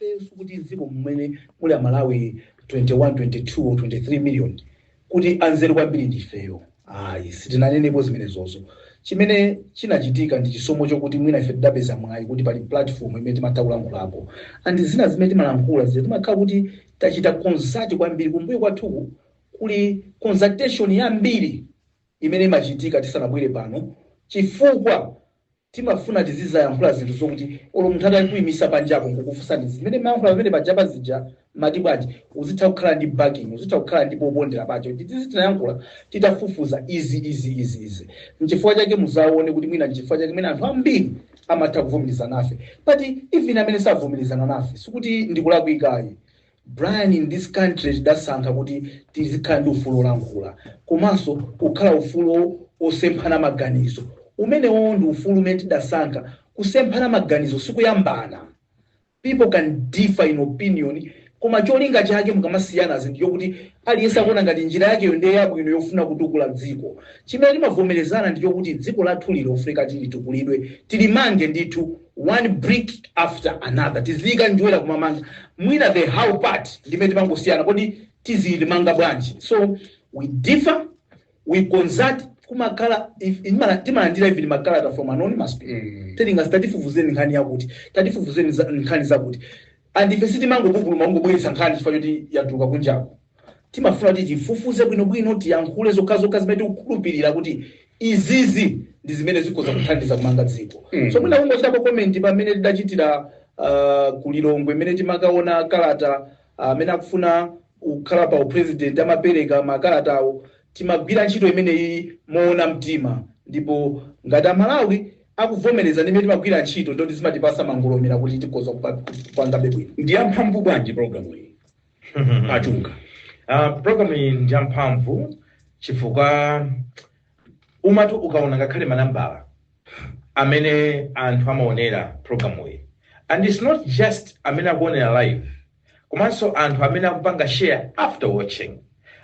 Ifenso kuti dziko mmene muli a Malawi 21, 22 or 23 million kuti anzeru kwambiri ndi ifeyo? Ayi sitinanenepo zimenezo. Chimene chinachitika ndi chisomo chokuti mwina ife tidapeza mwayi kuti pali platform imene timatha kulankhulapo and zina zimene timalankhula zija timakhala kuti tachita consult kwambiri. Kumbuyo kwathuku kuli consultation yambiri imene imachitika tisanabwere pano chifukwa. Timafuna tizizayankhula zinthu zokuti olo munthu atankuimisa panjako nkukufunsa, zimene mmayankhula paja pajapa zija mmati bwanji uzitha kukhala ndi backing uzitha kukhala ndi popondera pake kuti izi tinayankhula titafufuza izi izi izi izi nchifukwa chake muzaone kuti mwina nchifukwa chimene anthu ambiri amatha kuvomerezana nafe but even amene savomerezana nafe sikuti ndikulakwika ayi Brian, in this country tidasankha kuti tizikhala ndi ufulu olankhula komanso kukhala ufulu wosemphana maganizo. Umenewowo ndi ufulu umene tidasankha. Kusemphana maganizo sikuyambana. People can differ in opinion koma cholinga chake mukamasiyanazi ndi chokuti aliyense akuona ngati njira yakeyo ndiye yabwino yofuna kutukula dziko. Chimene timavomerezana ndi chokuti dziko lathu lino lofunika litukulidwe, tilimange ndithu. one brick after another tiziyika njerwa kumamanga mwina the how part ndimene timangosiyana kodi tizilimanga bwanji so we differ we consult kumakhala if- imala- timalandira even makalata from anonymous people Mm. telingasi tatifufuzireni nkhani yakuti tatifufuzireni za- nkhani zakuti and ife sitimangopupuluma kungobweretsa nkhani chifukwa choti yatuluka kunjako Timafuna kuti tifufuze bwinobwino, tiyankhule zokhazokha zimene tikukhulupirira kuti izizi ndi zimene zikhoza kuthandiza kumanga dziko. Mm. So mwina kungochitako comment pamene tidachitira uh, ku Lilongwe mmene timakaona kalata amene akufuna kukhala pa upresident amapereka makalata awo timagwira ntchito imeneyi moona mtima ndipo ngati amalawi akuvomereza mmene timagwira ntchito ndiye zimatipatsa mangolomera kuti tikhoza kupa- kupangabe bwino ndi yamphamvu bwanji programu iyi a Chunga uh, program iyi ndi yamphamvu chifukwa umati ukaona ngakhale manambala amene anthu amaonera program iyi and it's not just amene akuonera live komanso anthu amene akupanga share after watching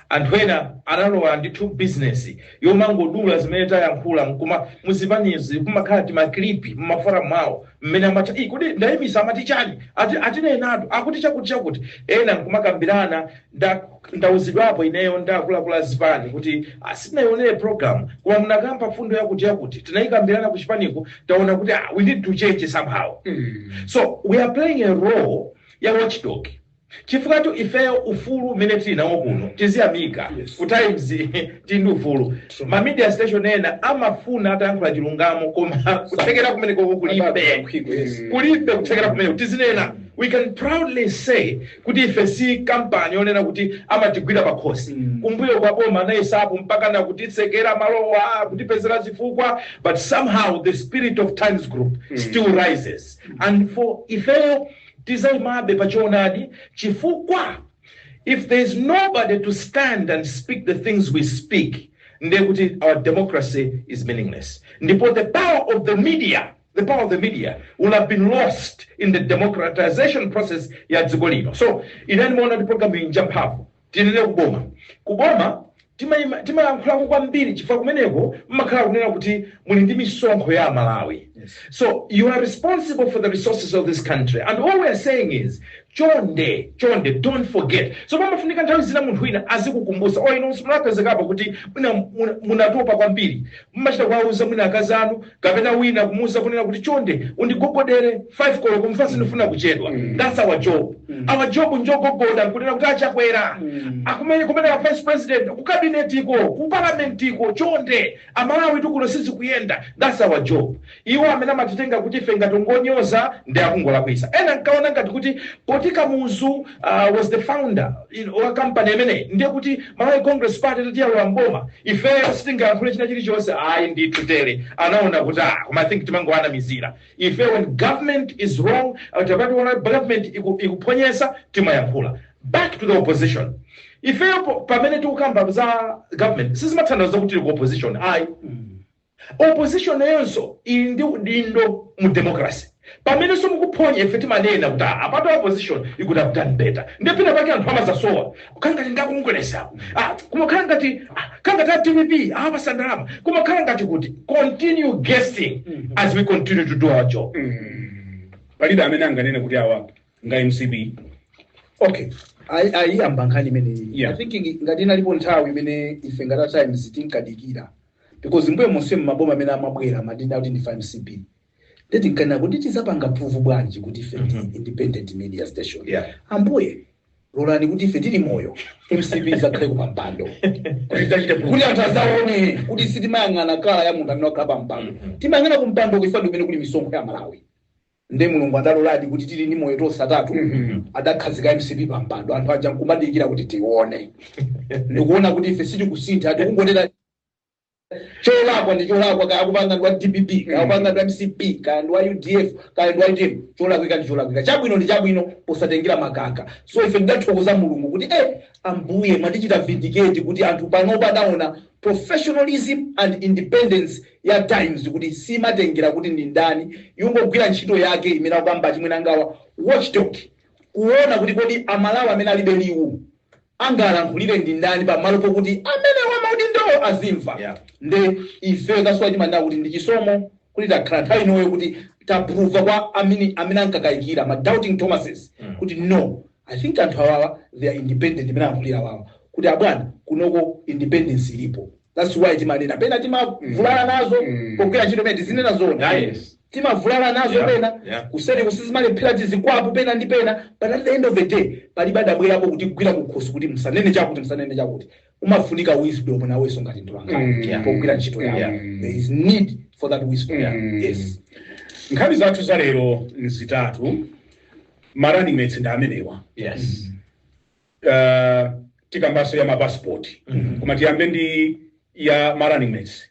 Anthu ena analowa ndithu business yomangodula zimene tayankhula nkuma m'zipanizi kumakhala tima clip mma forum awo mmene amatha ii kodi ndayimisa amati chani ati atinenatu, akuti chakuti chakuti ena kumakambirana nda ndauzidwapo ineyo ndi akuluakulu a zipani kuti ah, sitinaionere program koma munakamba fundo yakuti yakuti tinayikambirana ku chipaniku taona kuti ah, we need to change somehow so we are playing a role ya watchdog Chifukwatu ifeyo ufulu umene tili nawo kuno tiziyamika. Ku Times tili ndi ufulu. Ma media station ena amafuna atayankhula chilungamo koma kuthekera kumenekoko kulibe. Kulibe kuthekera kumeneko. Tizinena, we can proudly say kuti ife si kampani yonena kuti amatigwira pakhosi. Kumbuyo kwa boma anayesapo mpakana kutitsekera malo awa, kutipezera zifukwa but somehow the spirit of Times Group still rises and for ifeyo tidzaimabe pa choonadi chifukwa if there is nobody to stand and speak the things we speak ndiye kuti our democracy is meaningless ndipo the power of the media the power of the media will have been lost in the democratization process ya dziko lino so ine ndimaona kuti programu iyi njamphamvu Tinene ku boma. Ku boma timayima, timayankhulako kwambiri chifukwa kumeneko mmakhala kunena kuti muli ndi misonkho ya Amalawi. Yes. So you are responsible for the resources of this country and all we are saying is chonde chonde don't forget. So pamafunika nthawi zina munthu wina azikukumbusa olo inu munapezekapo kuti mwina muna- munatopa kwambiri mmachita kuwauza mwina akazi anu kapena wina kumuuza kunena kuti chonde undigogodere 5 koloko chifukwa sindifuna kuchedwa Mm. that's our job Mm. our job njogogoda kunena kuti achakwera Mm. akumeneko kumeneko a vice president ku kabinetiko ku parlamentiko chonde amalawi tikuno sizikuyenda that's our job iwo amene amatitenga kuti ife timangonyoza ndi akungolakwisa ena nkaona ngati kuti poti kamuzu uh, was the founder you know, wa kampani imeneyi ndiye kuti malawi congress party itati yalowa mboma ifeyo sitingayankhule china chilichonse ayi ndithu tere anaona kuti ah koma i think timangowanamizira ife when government is wrong uh, tikati taona government iku- ikuphonya timayankhula back to the opposition ifeyo po- pamene tikukamba za government sizimatanthauza kuti tili ku opposition ayi Opposition nayonso ili ndi udindo mu democracy. Pamenenso mukuphonya ife timanena kuti ah apatu opposition you could have done better. Ndiye pena pake anthu amadzasowa. Kukhala ngati ndi a Congress apo. Ah koma kukhala ngati ah, kukhala ngati a dpp awapasa ndalama. Koma kukhala ngati kuti continue guessing as we continue to do our job. palibe amene anganene kuti awa ndi a mcp okay ayi ayi yamba nkhani imeneyi Yeah. i think ngi- ngati inalipo nthawi imene ife ngati a times tinkadikira because mbuyo monsemu maboma amene amabwera amati ndife a mcp nde tinkanena kuti tizapanga prove bwanji kuti ife ndi Mhm. independent media station Yeah. ambuye lolani kuti ife tili moyo mcp izakhale kupampando Kuti tidzachite kuti kuti anthu azaone kuti sitimayang'ana colour ya munthu amene wakhala pampando Mhm. timayang'ana kumpando chifukwa ndi kumene kuli misonkho ya amalawi nde mulungu adaloladi kuti tili ndi moyo tonse atatu adakhazika mcp pa mpando anthu aja nkumadikira kuti tione ndikuona kuti ife sitikusintha tikungonena cholakwa ndi cholakwa kaya akupanga ndi wa dpp kaya akupanga ndi wa mcp kaya ndi wa udf kaya ndi wa utm cholakwika ndi cholakwika chabwino ndi chabwino posatengera mamkaka so ife ndidathokoza mulungu kuti eh ambuye mwatichita vindicate kuti anthu panopa adaona professionalism and independence ya times kuti simatengera kuti ndi ndani imangogwira ntchito yake imene akukamba achimwenangawa watchdog kuona kuti kodi amalawi amene alibe liwu angawalankhulire ndi ndani pamalo pokuti amene wamaudindowo azimva Yeah. nde ife kwa ife timanena kuti ndi chisomo kuti takhala nthawi inoyo kuti tapruva kwa amene amene ankakayikira ma doubting thomases kuti no I think anthu awawa they are independent mmene alankhulira awawa kuti abwana kunoko independence ilipo that's why timanena pena timavulala nazo Mm. pogwira ntchito pena tizinena zona Ah, yes. timavulala nazo Yeah, pena yeah. kuseri kuno sizimalephera zilipo pena ndi pena but at the end of the day palibe adabwerapo kutigwira kukhosi kuti msanene chakuti msanene chakuti umafunika wisdom iwenso ngati mtolankhani Mm. Yeah. pogwira ntchito yako Yeah. there is need for that wisdom Yeah. yes nkhani zathu za lero nzitatu ma running mates ndi amenewa Yes. uh, tikambaso ya mapasipoti koma tiyambe ndi ya ma running mates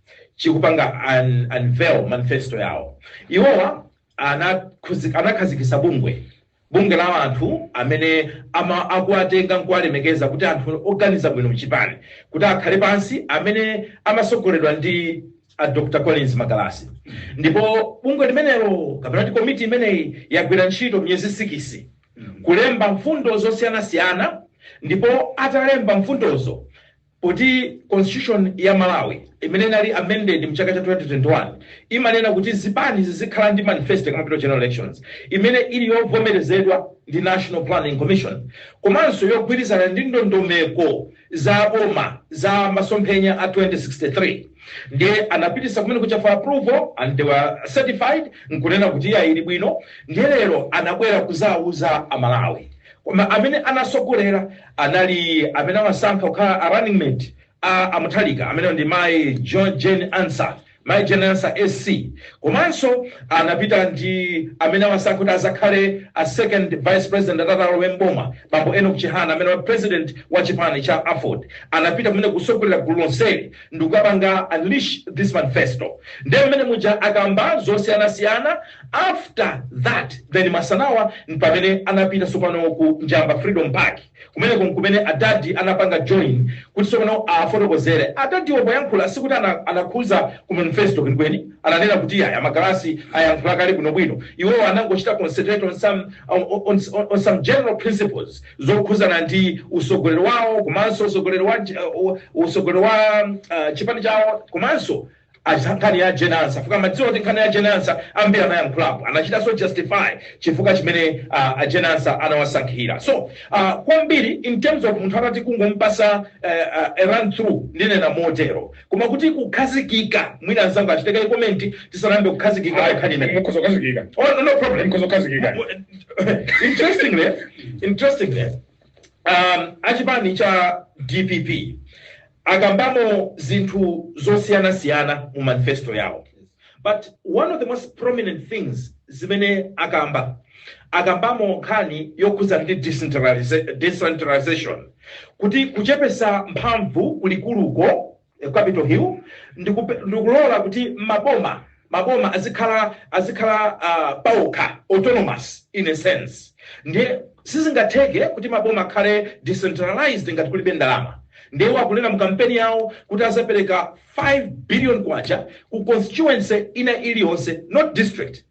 chikupanga un- unveil manifesto yawo iwowa anakhuzi- anakhazikitsa bungwe bungwe la anthu amene ama akuwatenga nkuwalemekeza kuti anthu oganiza bwino mchipani kuti akhale pansi amene amasogoleredwa ndi a dr collins magalasi ndipo bungwe limenelo kapena kuti komiti imeneyi yagwira ntchito miyezi sikisi kulemba mfundo zosiyanasiyana ndipo atalemba mfundozo Poti Constitution ya Malawi imene inali amended mchaka cha 2021 imanena kuti zipani zizikhala ndi manifesto zikamapita ku general elections imene ili yovomerezedwa ndi National Planning Commission komanso yogwirizana ndi ndondomeko za boma za masomphenya a 2063 ndiye anapitisa kumene kuja for approval and they were certified nkunena kuti iya ili bwino ndiye lero anabwera kuzawuza amalawi koma amene anasogolera anali amene awasankha kukhala a running mate a a Mutharika amenewo ndi mayi Jo- Jane Ansah mayi Jane Ansah SC komanso anapita ndi amene awasankha kuti azakhale a second vice president atati alowe mboma bambo Enoch Chihana amene wa president wa chipani cha Aford anapita kumene kusogolera gulu lonseli ndikukapanga unleash this manifesto ndiye pamene muja akamba zosiyanasiyana After that then masanawo mpamene anapita sopano ku Njamba Freedom Park kumeneko nkumene adadi anapanga join kuti sopano afotokozere adadiwo poyankhula sikuti ana, anakhuza ku manifesto kwenikweni ananena kuti a Magalasi ayankhula kale bwinobwino iwowo anangochita concentrate on some, on, on, on, on some general principles zokhuzana ndi usogoleri wawo komanso usogoleri wa, uh, usogoleri wa uh, chipani chawo komanso achita nkhani ya Jane Ansah chifukwa amadziwa kuti nkhani ya Jane Ansah ambiri anayankhulapo anachitanso justify chifukwa chimene uh, a Jane Ansah anawasankhira so uh, kwambiri in terms of munthu utati kungompasa uh, uh, run through ndinena motero koma kuti kukhazikika mwina anzangu achitekere komenti tisanayambe kukhazikika pa nkhani imeneyi mukhoza kukhazikika oh, no problem mukhoza kukhazikika interestingly interestingly um, achipani cha dpp akambamo zinthu zosiyana siyana mu manifesto yawo but one of the most prominent things zimene akamba akambamo nkhani yokhuzana ndi decentraliza- decentralization kuti kuchepesa mphamvu kulikuluko eh, capital hill ndikupe- ndikulola kuti m'maboma maboma azikhala azikhala a paokha autonomous in a sense ndiye sizingatheke kuti maboma akhale decentralized ngati kulibe ndalama ndiye akunena mu kampeni yawo kuti azapereka 5 billion kwacha ku constituency ina iliyonse not district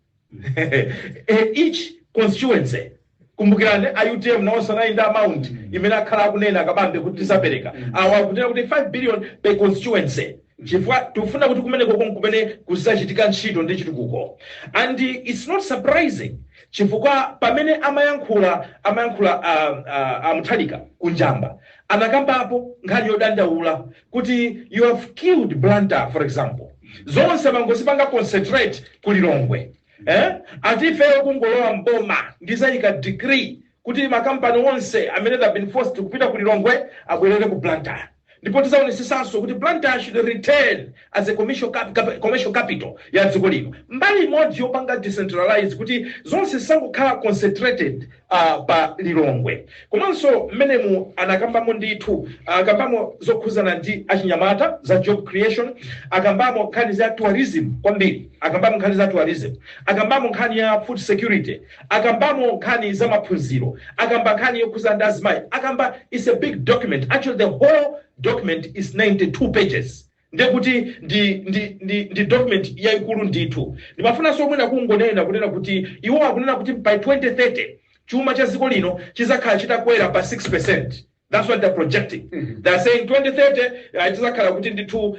Eh, each constituency Kumbukirani a utm nawonso anali ndi amount imene akhala akunena Kabambe kuti tizapereka. Awa akunena kuti 5 billion per constituency chifukwa tikufuna kuti kumenekoko nkumene kuzichitika ntchito ndi chitukuko and it's not surprising chifukwa pamene amayankhula amayankhula uh, uh, a Mutharika ku Njamba anakambapo nkhani yodandaula kuti you have killed Blantyre for example zonse mangozipanga concentrate ku Lilongwe eh? ati ifeyo kungolowa mboma ndizayika decree kuti makampani onse amene adakhala been forced kupita ku lilongwe abwerere ku blantyre ndipo tizaonesesanso kuti blantyre should return as a commercial, cap cap commercial capital ya dziko lino mbali imodzi yopanga decentralize kuti zonse zisangokhala concentrated a pa Lilongwe komanso mmenemu anakambamo ndithu akambamo zokhuzana ndi achinyamata za job creation akambamo nkhani za tourism kwambiri akambamo nkhani za tourism akambamo nkhani ya food security akambamo nkhani za maphunziro akamba nkhani yokhuzana ndi azimayi akamba it's a big document actually the whole document is 92 pages ndiye kuti ndi ndi ndi, ndi document yaikulu ndithu ndimafunanso mwina kungonena kunena kuti iwo akunena kuti by 2030 chuma cha dziko lino chizakhala chitakwera pa 6 percent that's what they're projecting Mhm. they're saying 2030 uh, tizakhala kuti ndithu uh,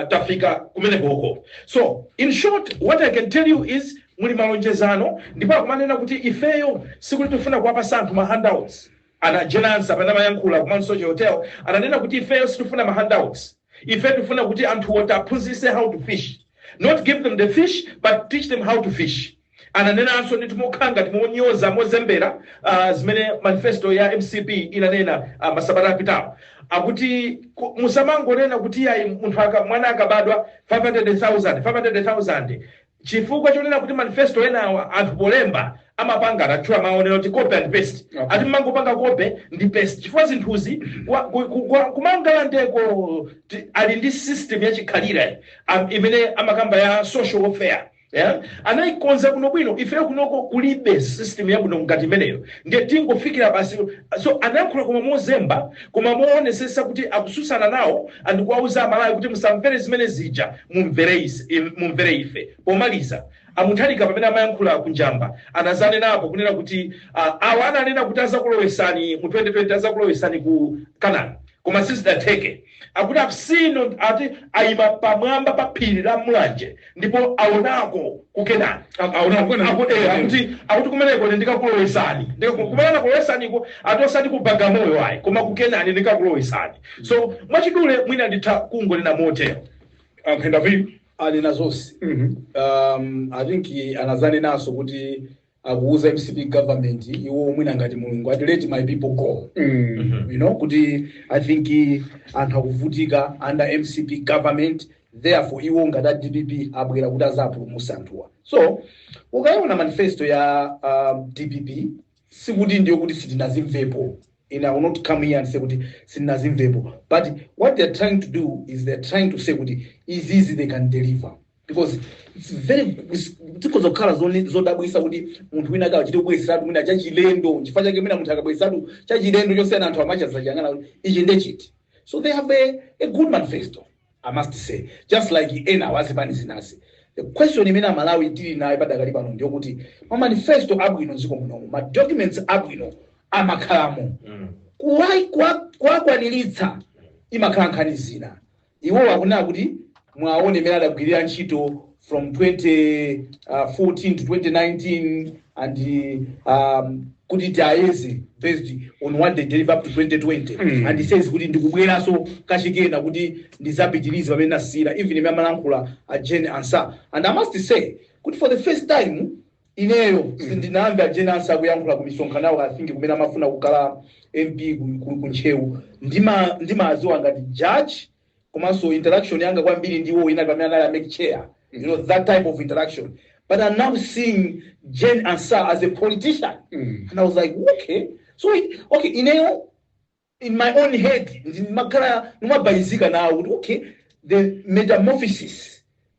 tafika kumene koko so in short what i can tell you is muli malonjezano ndipo akumanena kuti ifeyo sikuti tifuna kuwapasa anthu ma handouts A Najenazi pamene amayankhula ku Mount Soche Hotel ananena kuti ifeyo sitifuna ma handouts, ife tifuna kuti anthuwo tiaphunzise how to fish, not give them the fish but teach them how to fish. Ananenanso ndithu mokhala ngati monyoza, mozembera ah, zimene manifesto ya mcp inanena ah, masabata apitawo akuti ku- musamangonena kuti ayi munthu aka, mwana akabadwa 500,000 500,000 Chifukwa chonena kuti manifesto enawa anthu polemba amapanga atatchula mawu onena kuti copy and paste Okay. ati mmangopanga copy ndi paste chifukwa zinthuzi kwa- ku- ku- kwa- ku Mangalandeko ti- ali ndi system yachikhalire am- imene amakamba ya social welfare yeah? anayikonza bwinobwino ifeyo kunoko kulibe system yabwino ngati imeneyo ndiye tingofikira basi so anayankhula koma mozemba koma mowonesesa kuti akususana nawo ndi kuwauza amalawi kuti musamvere zimene zija mumvere ise- im- mumvere ife pomaliza a Mutharika pamene amayankhula ku Njamba anazanenapo kunena kuti ah, awa ananena kuti azakulowesani mu 2020 azakulowesani ku Kenani koma sizidatheke akuti I've seen on- ati ayima pamwamba pa phiri la mulanje ndipo awonako ku kenani Aonako. akuti akuti kumeneko ine ndikakulowesani Ndikaku- kumeneko ndikakulowesaniko ati osati ku bagamoyo ayi koma ku kenani ndikakulowesani so mwachidule mwina nditha kungonena motero A Mphenda vipi? anena zonse Mhm. um, i think eh, anazanenanso kuti akuuza mcp government iwo mwina ngati mulungu ati let my people go Mm. you know kuti i think eh, anthu akuvutika under mcp government therefore iwo ngati a dpp abwera kuti azapulumutse anthuwa so ukayiona manifesto ya um, dpp sikuti ndiye kuti sitinazimvepo ine i will not come here and say kuti sitinazimvepo but what they are trying to do is they are trying to say kuti izizi they can deliver because it's very difficult zokhala zone- zodabwisa kuti munthu wina akachite kubweresatu mwina chachilendo chifukwa chake mwina munthu akabweresatu chachilendo chosiyana anthu amachazachangana ichi ndechiti so they have a, a good manifesto I must say just like ena wazipani zinazi the question imene amalawi tili nayo padakali pano ndiyokuti ma manifesto abwino dziko munomu ma documents abwino amakhalamo Mm. kuwai- kuwa- kuwakwaniritsa imakhala nkhani ina iwo akunena kuti muwaone mmene adagwirira ntchito from 2014 to 2019 and um, kuti tiayeze based on what they deliver up to 2020 Mm. and he says kuti ndikubweranso kachikena kuti ndizapitirize pamene nasiyira even mmene amalankhula a jane ansa and i must say kuti for the first time ineyo sindinawamve a jane ansa akuyankhula ku misonkhano yawo i think kumene amafuna kukhala mp ku- ku- ku ntcheu ndima- ndimawaziwa ngati judge komanso interaction yanga kwambiri ndi iwo inali pamene anali a mec chair you know that type of interaction but i'm now seeing jane ansah as a politician Mm. and i was like okay so it, okay ineyo in my own head ndimakhala ndimabayizika nawo kuti okay the metamorphosis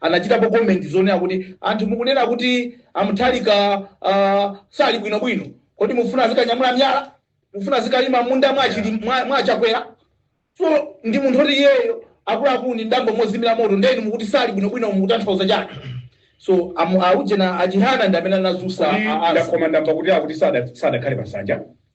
anachitapo comment zonena kuti anthu mukunena kuti a Mutharika uh, sali bwino bwino kodi mufuna azikanyamula miyala mufuna azikalima munda mwa Chili- mwa- mwa chakwera so ndi munthu oti iyeyo akulankhula ndi abambo mozimira moto ndeni mukuti sali bwino bwino mukutanthauza chani so amu auje na a Chihana ndi amene anazutsa a- a- ndakomandamba kuti akuti sada- sadakhale pasanja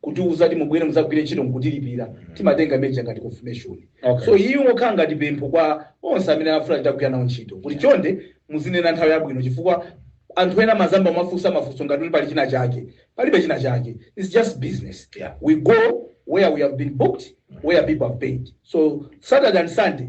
kutiuza kuti mubwere muzagwire ntchito nkutilipira timatenga imeneja ngati confirmation Okay. so iyi ingokhala ngati pempho kwa onse amene afuna titagwira nawo ntchito kuti chonde muzinena nthawi yabwino chifukwa anthu ena mazamba amafunsa mafunso ngati kuti pali china chake palibe china chake its just business Yeah. we go where we have been booked where people have paid so saturday and sunday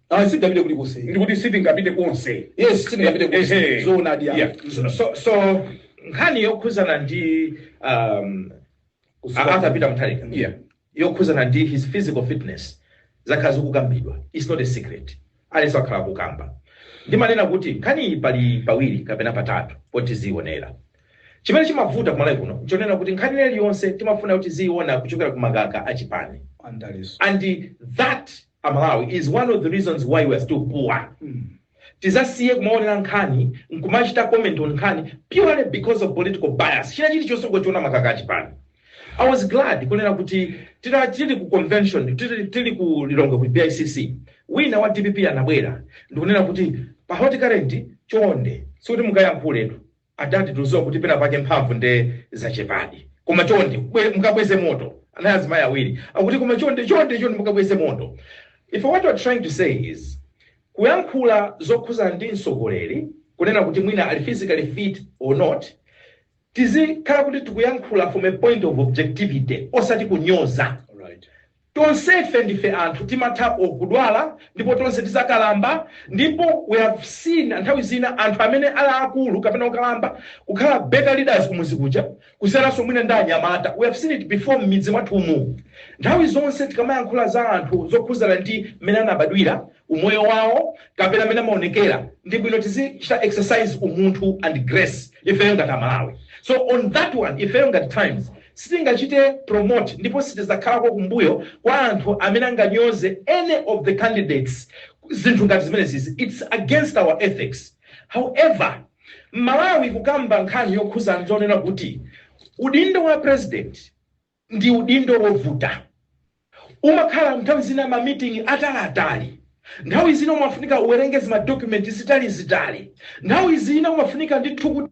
Ayi, sitingapite kulikonse. Ndikuti sitingapite konse. Yes, sitingapite konse. Ehe. Zoonadi, ayi. Yeah. So, so, so nkhani yokhuzana ndi um, Kuzipa- Arthur Peter Mutharika Yeah. yokhuzana ndi his physical fitness zakhala zikukambidwa its not a secret aliyense wakhala akukamba ndimanena kuti nkhani iyi pali pawiri kapena patatu potizionera chimene chimavuta kumalawi kuno nchonena kuti nkhani ina iliyonse timafuna kuti tiziiona kuchokera ku makaka achipani Andaliso. and that amalawi is one of the reasons why we're still poor tizasiye kumaonera nkhani nkumachita comment on nkhani purely because of political bias china chilichonse ngochiona makaka achipani i was glad kunena kuti tira- tili ku convention tili tili ku lilongwe ku bicc wina wa dpp anabwera ndikunena kuti pa hot current chonde zikuti mukayankhuletu Adadi tudziwa kuti pena pake mphamvu nde zachepadi koma chonde bwe mukabweze moto anali azimayi awiri akuti koma chonde chonde chonde mukabweze moto ife what we're trying to say is kuyankhula zokhuzana ndi mtsogoleri kunena kuti mwina ali physically fit or not tizikhala kuti tikuyankhula from a point of objectivity osati kunyoza Alright. Tonsefe ndife anthu, timatha kudwala, ndipo tonse tidzakalamba. Ndipo we have seen nthawi zina anthu amene ali aakulu kapena okalamba kukhala better leaders kumudzi kuja kusiyananso mwina ndi anyamata. We have seen it before m'midzi mwathumu. Nthawi zonse tikamayankhula za anthu zokhudzana ndi mmene anabadwira, umoyo wawo, kapena mmene amaonekera, ndi bwino tizichita exercise umunthu and grace ifeyo ngati Amalawi. So on that one, ifeyo ngati Times, Sitingachite promote ndipo sitidzakhalako kumbuyo kwa anthu amene anganyoze any of the candidates zinthu ngati zimenezizi its against our ethics. However mmalawi kukamba nkhani yokhudzana ndi zoona kuti udindo wa president ndi udindo wovuta umakhala nthawi zina ma meeting ataliatali nthawi zina umafunika uwerenge zima document zitalizitali nthawi zina umafunika ndithu kuti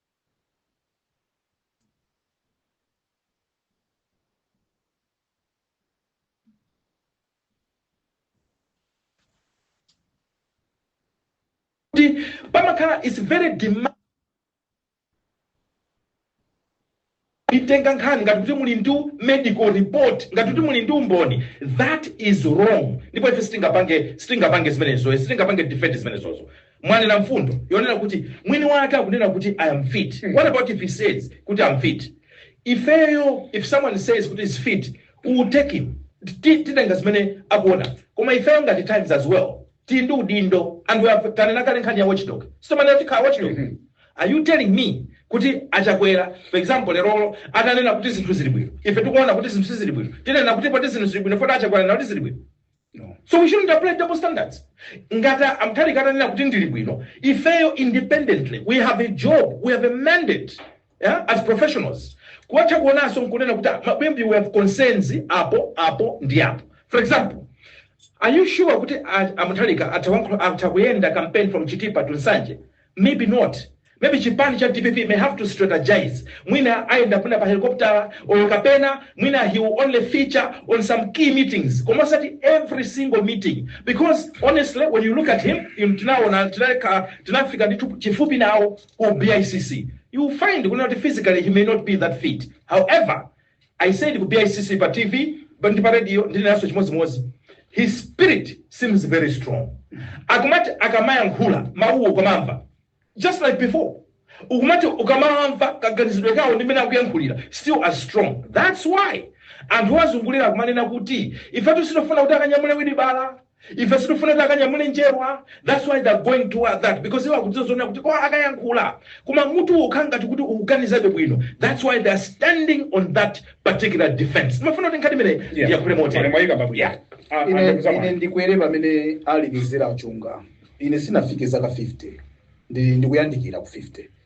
kuti pamakhala is very demand kuitenga nkhani ngati kuti muli ndi medical report ngati kuti muli ndi umboni that is wrong ndipo ife sitingapange sitingapange zimenezo sitingapange defend zimenezozo mwanena mfundo yonena kuti mwini wake akunena kuti i am fit what about if he says kuti i am fit ifeyo if someone says kuti he's fit we will take him Ti- titenga zimene akunena koma ifeyo ngati times as well tili ndi udindo and we have tanena kale nkhani ya watchdog si tomwe tanena tikhala watchdog Mhm. are you telling me kuti achakwera for example lerolo atanena kuti zinthu zili bwino ife tikuona kuti zinthu sizili bwino tinena kuti poti zinthu zili bwino poti achakwera anena kuti zili bwino No. so we shouldn't apply double standards ngati a Mutharika atanena kuti ndili bwino ifeyo independently we have a job we have a mandate yeah as professionals kuwatha kuonanso nkunena kuti ah, a bwana we have concerns apo apo ndi apo for example are you sure kuti a- a Mutharika atha wankho- atha kuyenda campaign from chitipa to nsanje maybe not maybe chipani cha dpp may have to strategize mwina ayenda mwina pa helicopter or kapena mwina he will only feature on some key meetings koma osati every single meeting because honestly when you look at him im- tinaona tinaka- tinafika ndithu kufupi nawo ku BICC, you will find you know, that physically he may not be that fit. However, I said ku BICC pa TV, pano ndi pa radio, ndinenanso chimodzimodzi. His spirit seems very strong. Akumati akamayankhula mawuwo ukuwamva. Just like before. Ukumati ukamamva kaganizidwe kawo ndi mmene akuyankhulira. Still as strong. That's why. Anthu awazungulira akumanena kuti ifetu sitikufuna kuti akanyamule wilibala. ife sitifuna kuti akanyamule njerwa that's why they're going toward that because iwo akudziwa zonena kuti kwa akayankhula koma mutu ukhala ngati kuti ukuganizabe bwino that's why they're standing on that particular defense ndimafuna kuti nkhani imeneyi Yeah. yakhule Pamene motere mwayika pabwino. Yeah. Ah, ah, ine, ndugu zangu. ine ndikwere pamene ali mizera a Chunga ine sinafike zaka 50 ndi ndikuyandikira ku 50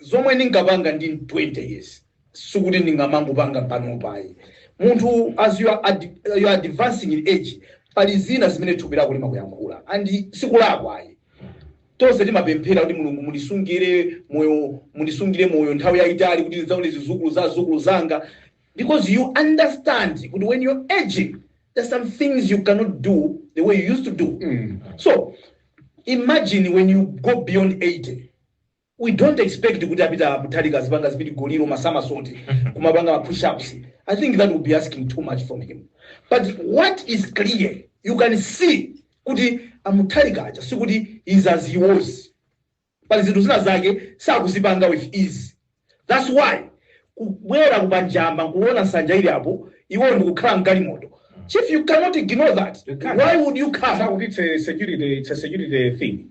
zomwe ndinkapanga ndili 20 years sikuti ndingamangopanga panopa ayi munthu as you are, ad, you are advancing in age pali zina zimene thupi lako limakuyankhula and sikulakwa ayi tonse timapemphera kuti mulungu mundisungire moyo mundisungire moyo nthawi yayitali kuti ndidzaone zizukulu za zizukulu zanga because you understand kuti when you're aging there's some things you cannot do the way you used to do Mm. so imagine when you go beyond 80 We don't expect kuti a Peter Mutharika azipanga zipidigoli ma somersault kumapanga ma push ups. I think that would be asking too much from him. But what is clear, you can see kuti a Mutharika aja sikuti is as he was. Pali zinthu zina zake sakuzipanga with ease. That's why kubwera ku Njamba nkuona nsanja ili apo iwo ndikukhala mgalimoto. Chief, you cannot ignore that. You can't. Why would you come? Sikuti it's a security, it's a security thing.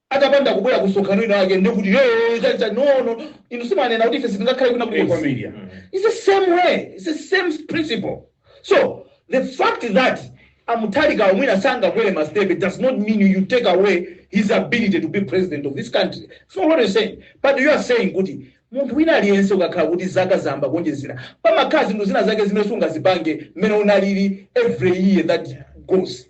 atapanda kubwera ku msonkhano wina wake ndiye kuti "Hey, chani chani no no inu simanena kuti ife sitingakhale kwina Eh, kulikonse." kwambiri, mm. it's the same way it's the same principle so the fact that a Mutharika mwina sangabwere mastebe does not mean you take away his ability to be president of this country so what you saying but you are saying kuti munthu wina aliyense ukakhala kuti zaka zayamba kuonjezera pamakhala zinthu zina zake zimene sungazipange mmene unalili every year that goes